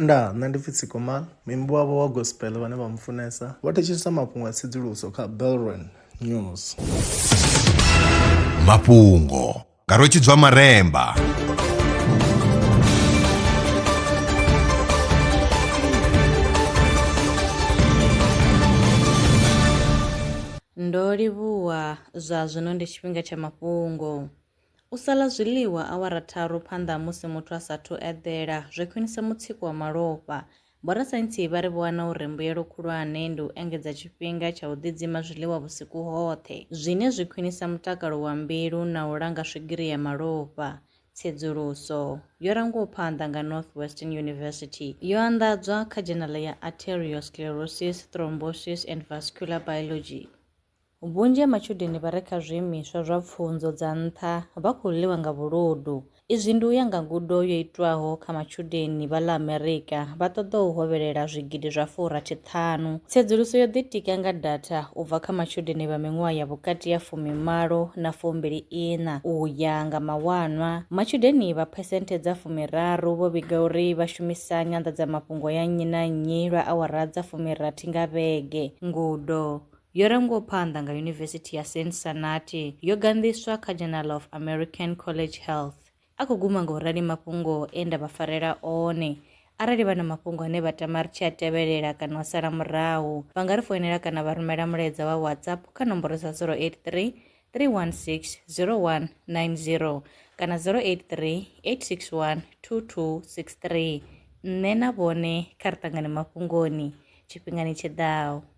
Ndaa, nṋe ndi pfi Tsikomal, muimbi wavho wa gospel vhane vha mufunesa, vho thetshelesa mafhungo a tsedzuluso kha Belron News. Mafhungo nga Rwetshidzwa Maremba. Ndo livhuwa, zwa zwino ndi tshifhinga tsha mafhungo. U sa ḽa zwiḽiwa awara tharu phanḓa ha musi muthu a sa athu eḓela zwi khwinisa mutsiko wa malofha. Vhorasaintsi vha ri vho wana uri mbuyelo khulwane ndi u engedza tshifhinga tsha u ḓidzima zwiḽiwa vhusiku hoṱhe, zwine zwi khwinisa mutakalo wa mbilu na u langa swigiri ya malofha. Tsedzuluso yo rangwaho phanḓa nga Northwestern University yo anḓadzwa kha dzhenala ya Arteriosclerosis, Thrombosis and Vascular Biology. Vhunzhi ha matshudeni vha re kha zwiimiswa zwa pfunzo dza nṱha vha khou ḽiwa nga vhuludu. Izwi ndi u ya nga ngudo yo itwaho kha matshudeni vha ḽa Amerika vha ṱoḓaho u hovhelela zwigidi zwa furathi ṱhanu. Tsedzuluso yo ḓitika nga datha u bva kha matshudeni vha miṅwaha ya vhukati ha fumi malo na fumbili iṋa. U ya nga mawanwa, matshudeni vha phesenthe dza fumi raru vho vhiga uri vha shumisa nyanḓadzamafhungo ya nnyi na nnyi lwa awara dza fumi rathi nga vhege. Ngudo. Yo rangwaho phanḓa nga Yunivesithi ya Cincinnati, yo ganḓiswa kha Journal of American College Health. A khou guma nga u rali mafhungo e nda vha farela one. Arali vha na mafhungo ane vha tama ri tshi a tevhelela kana vha sala murahu, vha nga ri foinela kana vha rumela mulaedza wa WhatsApp kha nomboro dza 083 316-0190 kana 083-861-2263. Nṋe na vhone kha ri ṱangane mafhungoni tshifhingani tshi ḓaho.